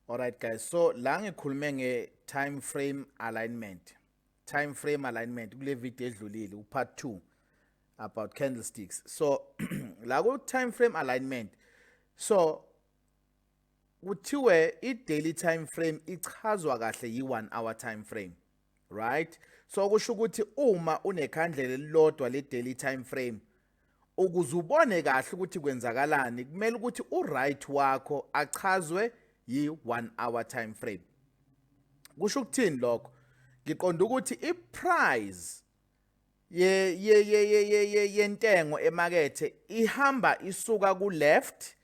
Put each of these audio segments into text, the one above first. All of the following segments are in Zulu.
Alright guys, so la ngikhulume nge time frame alignment. Time frame alignment kule video edlulile u part 2 about candlesticks. So la ku time frame alignment. So kuthiwe i daily time frame ichazwa kahle yi 1 hour time frame. right so kusho ukuthi uma unekhandlela elilodwa le daily time frame ukuze ubone kahle ukuthi kwenzakalani kumele ukuthi u right wakho achazwe yi 1 hour time frame kusho ukuthini lokho ngiqonda ukuthi i price ye ye ye ye yentengo emakethe ihamba isuka ku left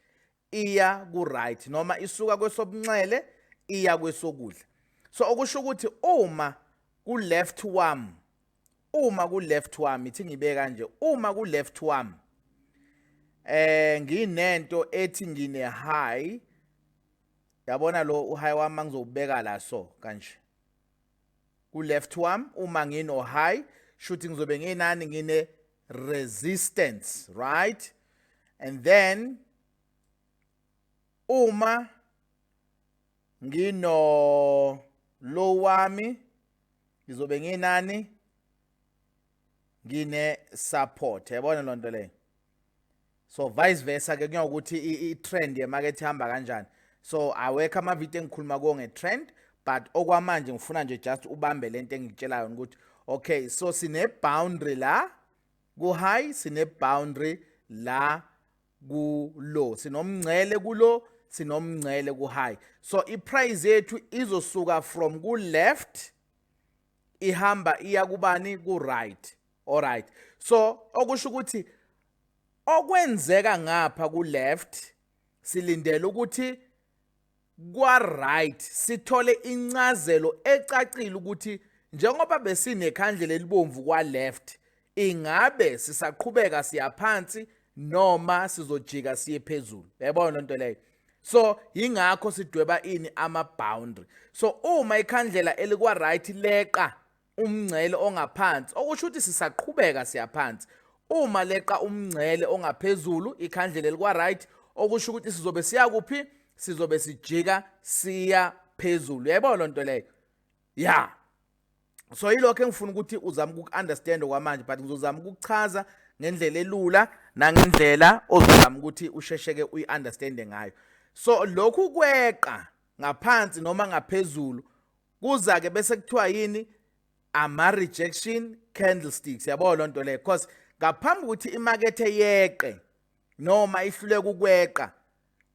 iya ku right noma isuka kwesobunxele iya kwesokudla so okusho ukuthi uma ku left wami uma ku left wami ithi ngibe kanje uma ku left wami eh nginento ethi ngine high yabona lo uhigh wami ngizobeka la so kanje ku left wam uma ngino high shuthi ngizobe nginani ngine resistance right and then uma ngino low wami ngizobe nginani ngine support yabona lonto leyo so vice versa ke kuyokuthi i-trend yemarket ihamba kanjani so awekho amavidiyo engikhuluma kuwo nge-trend but okwamanje ngifuna nje just ubambe lento engikutshela yona ukuthi okay so sine boundary la ku high sine boundary la ku low sinomngcele ku low sinomngcele ku high so i price yethu izosuka from ku left ihamba iya kubani ku right Alright. So okusho ukuthi okwenzeka ngapha ku left silindele ukuthi kwa right sithole incazelo ecacile ukuthi njengoba besinekhandlela elibomvu kwa left ingabe sisaqhubeka siyaphansi noma sizojika siye phezulu yabona lento leyo so ingakho sidweba ini ama boundary so uma ikhandlela elikwa right leqa umngcele ongaphansi okusho ukuthi sisaqhubeka siyaphansi uma leqa umngcele ongaphezulu ikhandlela elikwa-right okusho ukuthi sizobe siya kuphi sizobe sijika siya phezulu yayibona loo nto leyo ya so yilokho engifuna ukuthi uzame uku-understand okwamanje but ngizozama ukukuchaza ngendlela elula nangendlela ozozama ukuthi ushesheke uyi-understande ngayo so lokhu kweqa ngaphansi noma ngaphezulu kuza-ke bese kuthiwa yini ama-rejection candlesticks yabo loo nto leyo because ngaphambi kokuthi imakethe yeqe noma ihluleka ukweqa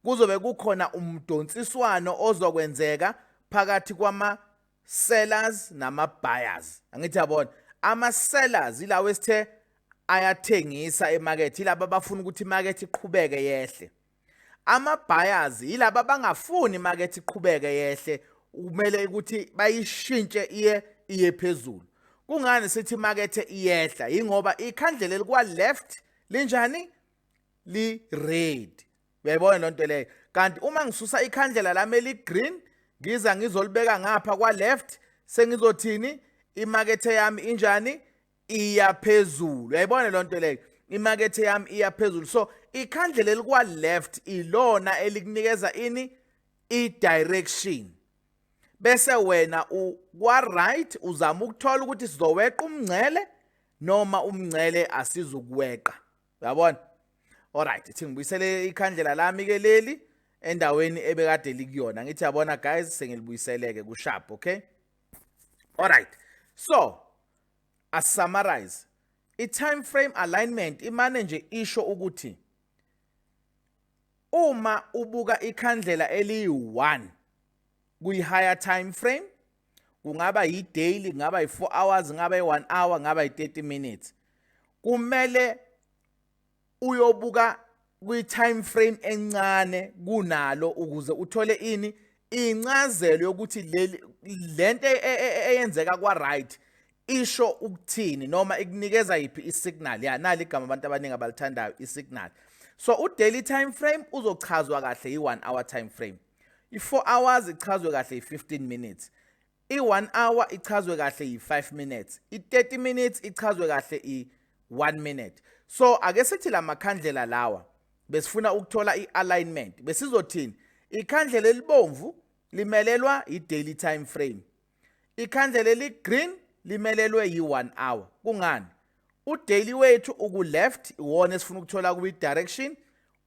kuzobe kukhona umdonsiswano ozokwenzeka phakathi kwama sellers nama buyers angithi yabona ama sellers ilawo esithe ayathengisa emarket ilaba abafuna ukuthi imarket iqhubeke yehle Ama-buyers yilaba abangafuni imakethe iqhubeke yehle kumele ukuthi bayishintshe iye iye phezulu. Kungani sithi imakethe iyehla yingoba ikhandlela elikwa left linjani li red. Uyayibona lonto leyo. Kanti uma ngisusa ikhandlela lami eli green ngiza ngizolibeka ngapha kwa left sengizothini imakethe yami injani iya phezulu uyayibona le nto leyo imakethe yami iya phezulu so ikhandle leli kwa-left ilona elikunikeza ini i-direction bese wena kwa-right uzama ukuthola ukuthi sizoweqa umngcele noma umngcele asizukuweqa uyabona alright ithi ngibuyisele ikhandlela lami-ke leli endaweni ebekade likuyona ngithi yabona guys sengilibuyiseleke kushap okay alright so Asummarize, I-time frame alignment imane nje isho ukuthi uma ubuka ikhandlela eliyi-1 kuyi-higher time frame kungaba yi-daily kungaba yi-4 hours kungaba yi-1 hour kungaba yi-30 minutes kumele uyobuka kwi-time frame encane kunalo ukuze uthole ini incazelo yokuthi leli lento e, e, e, eyenzeka kwa right isho ukuthini noma ikunikeza iphi isignal ya nali igama abantu abaningi abalithandayo isignal so u daily time frame uzochazwa kahle i 1 hour time frame i 4 hours ichazwe kahle i 15 minutes I-one hour ichazwe kahle yi-five minutes i-thirty minutes ichazwe kahle i-one minute so ake sithi la makhandlela lawa besifuna ukuthola i-alignment besizothini ikhandlela elibomvu limelelwa yi-daily time frame ikhandlela eli-green limelelwe yi-one hour kungani udaily wethu uku-left iwona esifuna ukuthola kubi-direction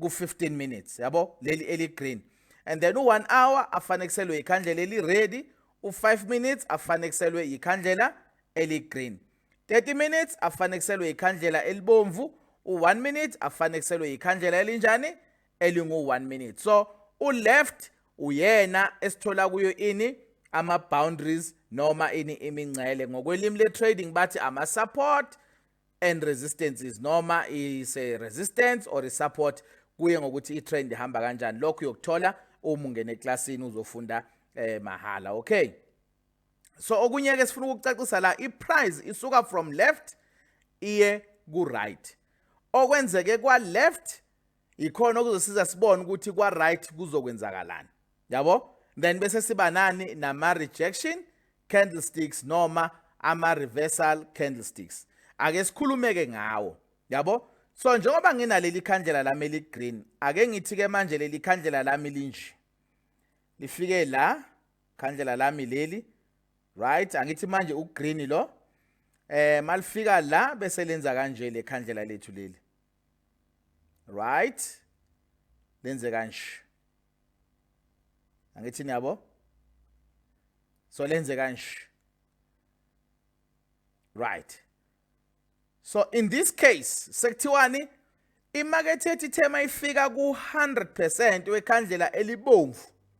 ku-15 minutes yabo leli eli-green and then u-one hour afanekselwe yikhandlela eli-ready u-5 minutes afanekselwe yikhandlela eli-green 30 minutes afanekselwe yikhandlela elibomvu u-1 minute afanekselwe yikhandlela elinjani elingu-1 minute so u-left uyena esithola kuyo ini ama-boundaries noma ini imingcele ngokwelimi le-trading bathi ama-support and resistances noma is a resistance or a support kuye ngokuthi i-trend ihamba kanjani lokho uyokuthola uma ungena eklasini uzofunda eh mahhala okay so okunye ke sifuna ukucacisa la i-price isuka from left iye ku-right okwenzeke kwa-left ikhona okuzosiza sibone ukuthi kwa right kuzokwenzakalani yabo then bese siba nani nama rejection candlesticks noma ama reversal candlesticks ake sikhulumeke ngawo yabo so njengoba nginaleli khandlela lami eli green ake ngithi ke manje leli khandlela lami linje lifike la khandlela lami leli right angithi manje ugreen lo eh malifika la bese lenza kanje le khandlela lethu leli right lenze kanje angithi niyabo so lenze kanje right so in this case sekuthiwani imakethe ethi thema ifika ku 100% wekhandlela elibomvu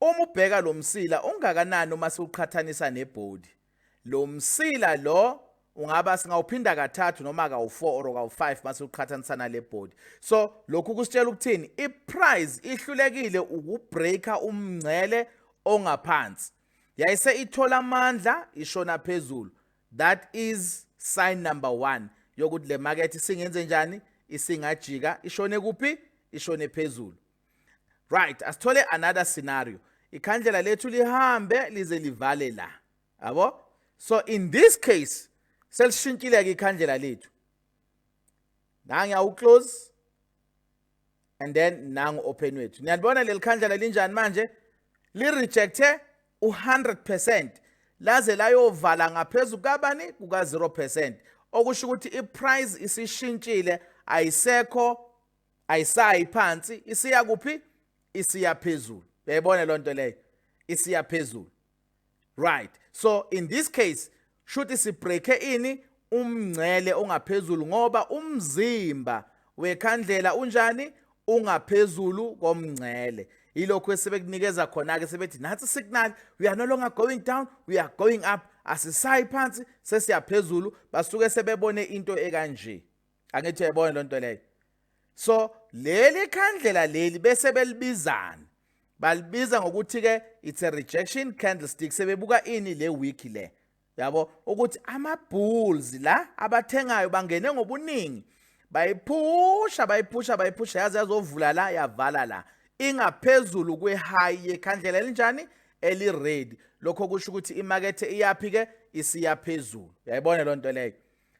Uma ubheka lo msila ungakanani uma siwuqhathanisa nebhodi. Lo msila lo ungaba singawuphinda kathathu noma kawu-4 or kawu-5 uma siwuqhathanisa nale bhodi so lokhu kusitshela ukuthini iprize ihlulekile ukubreaka umngcele ongaphansi yayise ithola amandla ishona phezulu that is sign number one yokuthi le market isingenze njani isingajika ishone kuphi ishone phezulu right asithole another scenario ikhandlela lethu lihambe lize livale la yabo so in this case selishintshile ke ikhandlela lethu nangi awu close and then nangu open wethu niyalibona leli khandlela linjani manje li rejecte u100% laze layovala ngaphezulu kabani kuka 0% okusho ukuthi iprice isishintshile ayisekho ayisayi phansi isiya kuphi isiya phezulu uyayibona loo nto leyo isiya phezulu right so in this case shuthi sibreake ini umngcele ongaphezulu ngoba umzimba wekhandlela unjani ungaphezulu komngcele ilokho esebekunikeza khona ke sebethi nathi signal we are no longer going down we are going up asisayi phansi sesiyaphezulu basuke sebebone into ekanje angithi uyayibona loo nto leyo so leli khandlela leli bese belibizana balibiza ngokuthi-ke it's a rejection candlestick sebebuka ini le week le yabo ukuthi ama-bulls la abathengayo bangene ngobuningi bayiphusha bayiphusha bayiphusha yaze yazovula la yavala la ingaphezulu kwe-high yekhandlela elinjani eli-red lokho kusho ukuthi imakethe iyaphi-ke isiyaphezulu yayibona loo nto leyo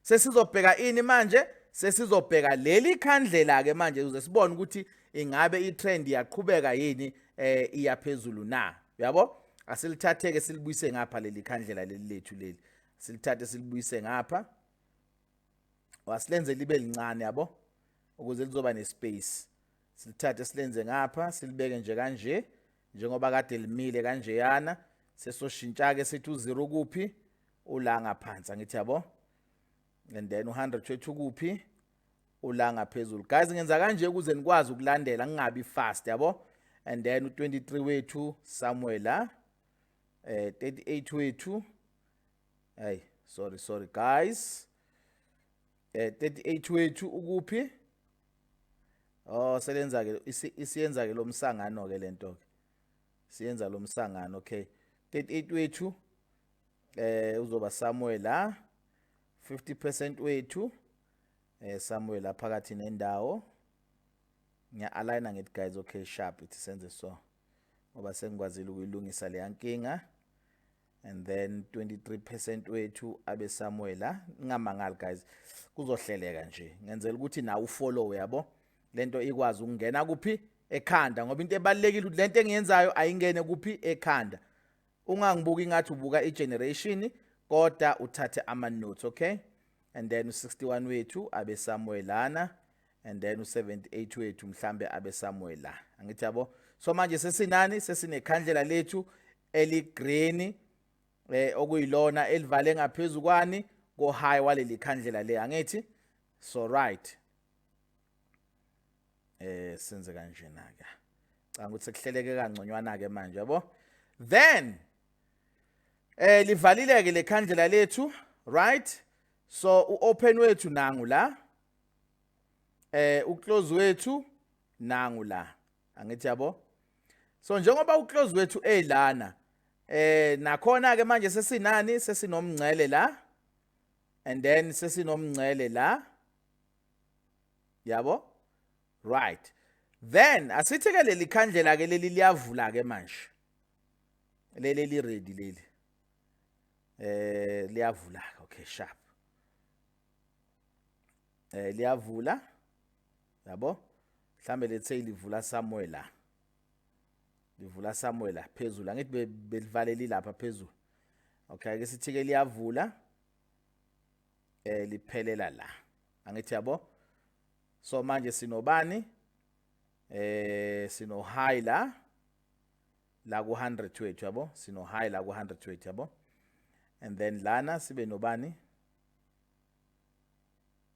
sesizobheka ini manje sesizobheka leli khandlela ke manje uze sibone ukuthi ingabe itrend iyaqhubeka yini eh iyaphezulu na uyabo asilithatheke silibuyise ngapha leli khandlela leli lethu leli silithathe silibuyise ngapha wasilenze libe lincane yabo ukuze lizoba nespace silithathe silenze ngapha silibeke nje kanje njengoba kade limile kanjeyana sesoshintsha-ke sithi u-0 ukuphi ula ngaphansi angithi yabo and then u-100 shethu ukuphi ula ngaphezulu guys ngenza kanje ukuze nikwazi ukulandela ngingabi fast yabo and then u-23 wethu somewhere la eh 38 wethu hey sorry sorry guys eh 38 wethu ukuphi oh selenza ke isiyenza ke lomsangano ke lento ke siyenza lomsangano okay 38 wethu eh uzoba Samuel la 50% wethu eh Samuel la phakathi nendawo ngiya aligna ngithi guys okay sharp ithi senze so ngoba sengikwazile ukuyilungisa leyankinga and then 23 percent wethu abe somewhere la ngingamangali guys kuzohleleka nje ngenzela ukuthi nawe ufollow yabo lento ikwazi ukungena kuphi ekhanda ngoba into ebalekile ukuthi lento engiyenzayo ayingene kuphi ekhanda ungangibuki ingathi ubuka igeneration kodwa uthathe ama notes okay and then u61 wethu abe somewhere lana and then u78 wethu mhlambe abe somewhere la angithi yabo so manje sesinani sesinekhandlela lethu eligreen eh okuyilona elivale ngaphezulu kwani ko high waleli khandlela le angithi so right eh senze kanjena ke canga ukuthi sekuhleleke kangconywana ke manje yabo then eh livalileke lekhandlela lethu right so uopen wethu nangu la eh uclose wethu nangu la angithi yabo so njengoba uclose wethu elana eh nakhona ke manje sesinani sesinomngcele la and then sesinomngcele la yabo right then asithi ke leli khandlela ke leli liyavula ke manje leli li ready leli eh liyavula okay sharp eh liyavula yabo mhlambe lethe livula somewhere la livula somewhere la phezulu angithi belivaleli lapha phezulu okay ke sithi ke liyavula eh liphelela la angithi yabo so manje sinobani eh sino high la la ku 100 wethu yabo sino high la ku 100 wethu yabo and then lana sibe nobani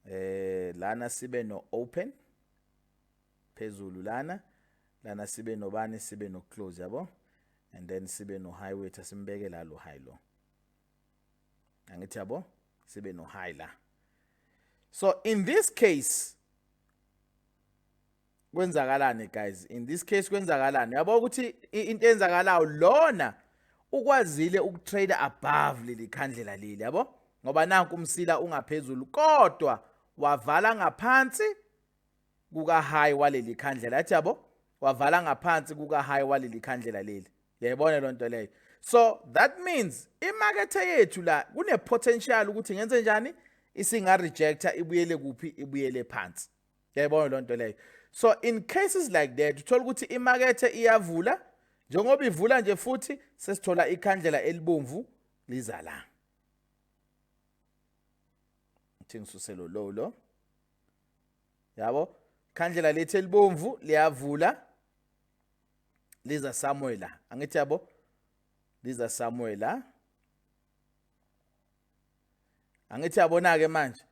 eh lana sibe no open phezulu lana lana sibe nobani sibe no close yabo and then sibe no high weight asimbeke la lo high lo angithi yabo sibe no high la so in this case kwenzakalani guys in this case kwenzakalani yabo ukuthi into eyenzakalayo lona ukwazile ukutrader above leli khandlela leli yabo ngoba nanku umsila ungaphezulu kodwa wavala ngaphansi kuka high waleli khandlela athi yabo wavala ngaphansi kuka high waleli khandlela leli yayibona lonto leyo so that means imarket yethu la kune potential ukuthi ngenze njani isinga rejecta ibuyele kuphi ibuyele phansi yayibona loo nto leyo so in cases like that uthola ukuthi imakethe iyavula njengoba ivula nje futhi sesithola ikhandlela elibomvu liza la ngithi ngisuselo low lo yabo khandlela lethu elibomvu liyavula liza samuela angithi yabo liza samuela angithi yabona ke manje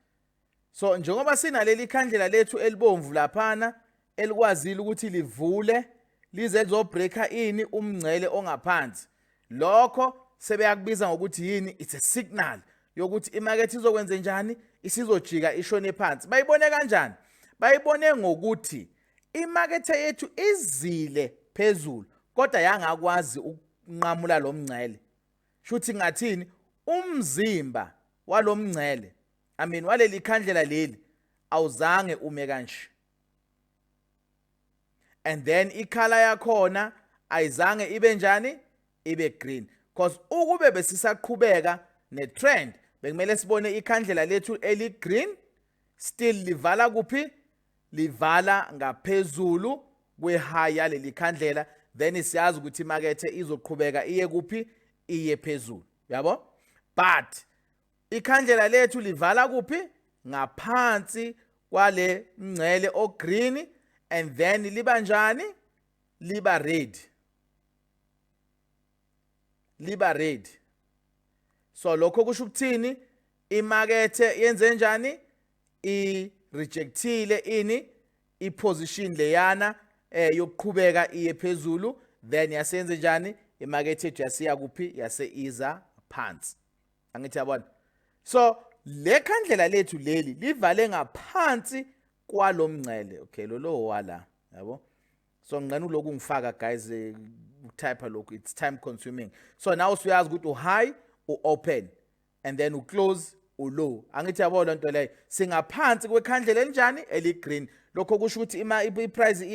so njengoba sinaleli khandlela lethu elibomvu laphana elikwazile ukuthi livule lize lizobreaker ini umngcele ongaphansi lokho sebeyakubiza ngokuthi yini it's a signal yokuthi imakethe izokwenze njani isizojika ishone phansi bayibone kanjani bayibone ngokuthi imakethe yethu izile phezulu kodwa yangakwazi ukunqamula lo mngcele shuthi ngathini umzimba walomngcele i mean waleli khandlela leli awuzange ume kanje and then ikhala yakhona ayizange ibe njani ibe green because ukube besisaqhubeka netrend bekumele sibone ikhandlela lethu eligreen still livala kuphi livala ngaphezulu kwe-high yaleli khandlela then siyazi ukuthi imakethe izoqhubeka iye kuphi iye phezulu yabo but ikhandlela lethu livala kuphi ngaphansi kwale mngcele ogreen and then liba njani liba red liba ready so lokho kusho ukuthini imakethe yenze njani i rejectile ini i position leyana eh yokuqhubeka iye phezulu then yasenze njani imakethe jasiya kuphi yase iza phansi angithi yabona so le khandlela lethu leli livale ngaphansi kwalomngcele okay lo lo wala yabo so ngqena uloku ngifaka guys eh, ukutype lokhu it's time consuming so now usuyazi ukuthi u-high u-open and then u-close ulow angithi yabo lento leyo singaphansi kwekhandlela elinjani eligreen lokho kusho ukuthi ima iprice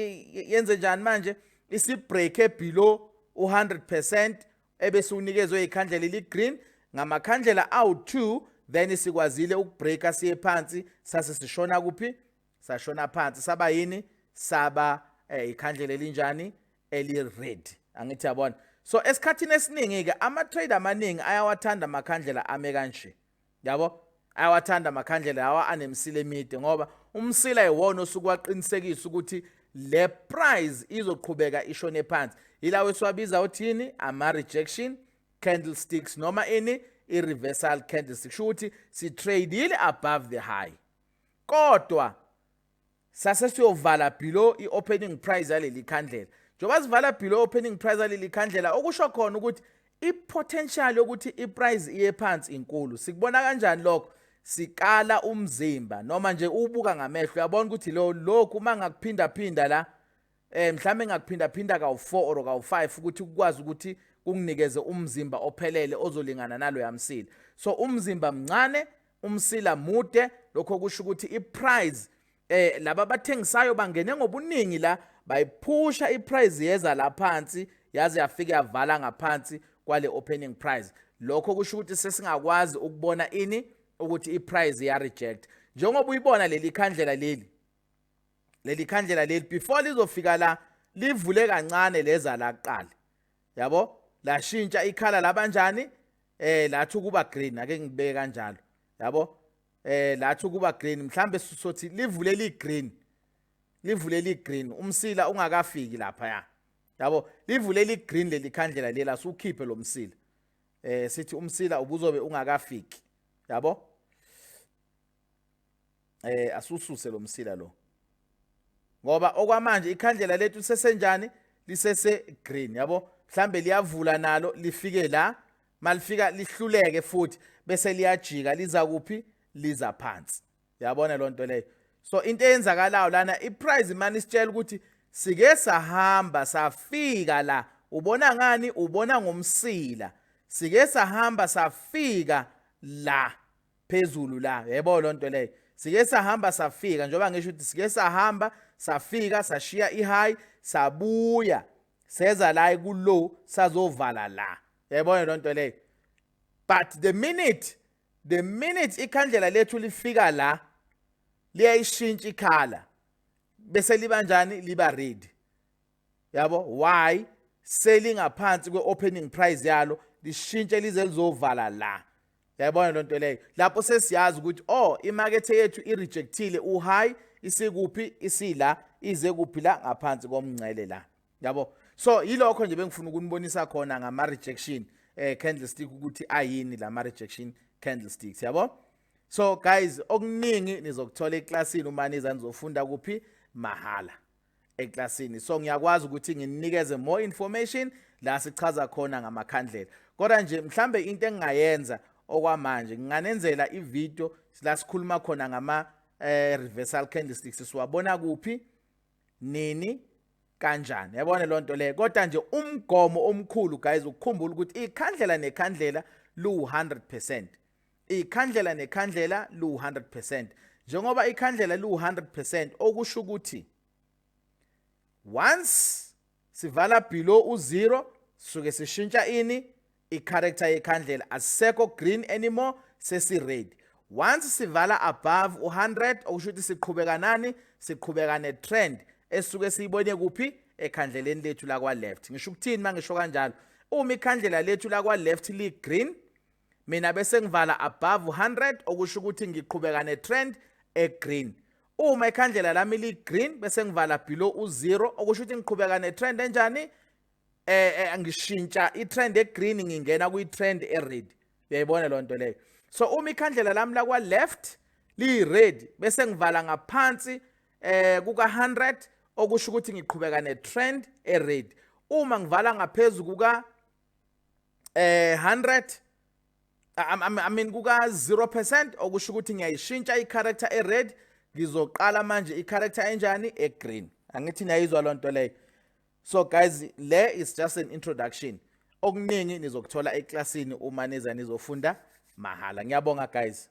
yenze njani manje isibreak ebelow u100% ebese unikezwe ikhandlela eligreen ngamakhandlela awu2 then sikwazile ukubreaka siye phansi sase sishona kuphi sashona phansi saba yini saba eh, ikhandlela elinjani eli red angithi yabona so esikhathini esiningi ke ama trader amaningi ayawathanda amakhandlela ame kanje yabo ayawathanda amakhandlela lawa anemsila emide ngoba umsila iwona osuke waqinisekisa ukuthi le price izoqhubeka ishone phansi yilawo esiwabiza uthini ama rejection candlesticks noma ini i-reversal candlestick sho ukuthi si-tradile above the high kodwa sase siyovala below i-opening price yaleli khandlela njengoba sivala below opening price yaleli khandlela okusho khona ukuthi i-potential yokuthi i-price iye phansi inkulu sikubona kanjani lokho sikala umzimba noma nje ubuka ngamehlo uyabona ukuthi lo lokhu uma ngakuphindaphinda la eh mhlawumbe ngakuphinda phinda kawu4 or kawu5 ukuthi ukwazi ukuthi kunginikeze umzimba ophelele ozolingana nalo yamsila so umzimba mncane umsila mude lokho kusho ukuthi iprice eh laba bathengisayo bangene ngobuningi la bayiphusha iprice yeza la phansi yaze yafika yavala ngaphansi kwale opening price lokho kusho ukuthi sesingakwazi ukubona ini ukuthi iprice ya reject njengoba uyibona leli khandlela leli leli khandlela leli before lizofika la livule kancane leza la kuqala yabo lashintsha ikhala labanjani eh lathi ukuba green ake ngibeke kanjalo yabo eh lathi ukuba green mhlambe sisothi livule li green livule li green umsila ungakafiki lapha ya yabo livule li green leli khandlela lela sukhiphe lo msila eh sithi umsila ubuzobe ungakafiki yabo eh asususe lo msila lo ngoba okwamanje ikhandlela lethu sesenjani lisese green yabo mhlambe liyavula nalo lifike la malifika lihluleke futhi bese liyajika liza kuphi liza phansi yabona lonto leyo so into eyenzakalayo lana iprize mani sitshela ukuthi sike sahamba safika la ubona ngani ubona ngomsila sike sahamba safika la phezulu la yebo lonto leyo sike sahamba safika njengoba ngisho ukuthi sike sahamba safika sashiya ihigh sabuya seza la kulow sazovala la yayibona lonto leyo but the minute the minute ikhandlela lethu lifika la liyayishintsha ikhala bese liba njani liba red yabo why selingaphansi kweopening price yalo lishintshe lize lizovala la yayibona lento leyo lapho sesiyazi ukuthi oh imakethe yethu irejectile uhayi isikuphi isila ize kuphi la ngaphansi komngcele la yabo so yilokho nje bengifuna ukunibonisa khona ngama rejection eh candlestick ukuthi ayini lama rejection candlesticks yabo so guys okuningi nizokuthola eclassini uma niza nizofunda kuphi mahala eklasini so ngiyakwazi ukuthi nginikeze more information la sichaza khona ngamakhandlela kodwa nje mhlambe into engingayenza okwamanje nginganenzela ivideo la sikhuluma khona ngama eh, reversal candlesticks siwabona kuphi nini kanjani yabona loo nto leyo kodwa nje umgomo omkhulu guys ukukhumbula ukuthi ikhandlela nekhandlela lu-100 percent ikhandlela nekhandlela lu-100 njengoba ikhandlela lu-100 okusho ukuthi once sivala below u-0 suke sishintsha ini i-character yekhandlela asisekho green anymore sesi-red once sivala above u-100 okusho ukuthi siqhubeka nani siqhubeka ne-trend esuke siyibone kuphi ekhandleleni lethu lakwa-left ngisho ukuthini uma ngisho kanjalo uma ikhandlela lethu lakwa-left li-green mina bese ngivala above 100 okusho ukuthi ngiqhubeka ne trend e green uma ikhandlela lami li green bese ngivala below u zero okusho ukuthi ngiqhubeka ne trend enjani eh, eh ngishintsha i trend e green ngingena kwi trend e red uyayibona lo nto leyo so uma ikhandlela lami la kwa left li red bese ngivala ngaphansi eh kuka 100 okusho ukuthi ngiqhubeka ne trend e red uma ngivala ngaphezulu kuka eh 100 I mean kuka 0% okusho ukuthi ngiyayishintsha i-character e-red ngizoqala manje i-character enjani e-green angithi niyayizwa loo nto leyo so guys le is just an introduction okuningi nizokuthola eklasini uma niza nizofunda mahhala ngiyabonga guys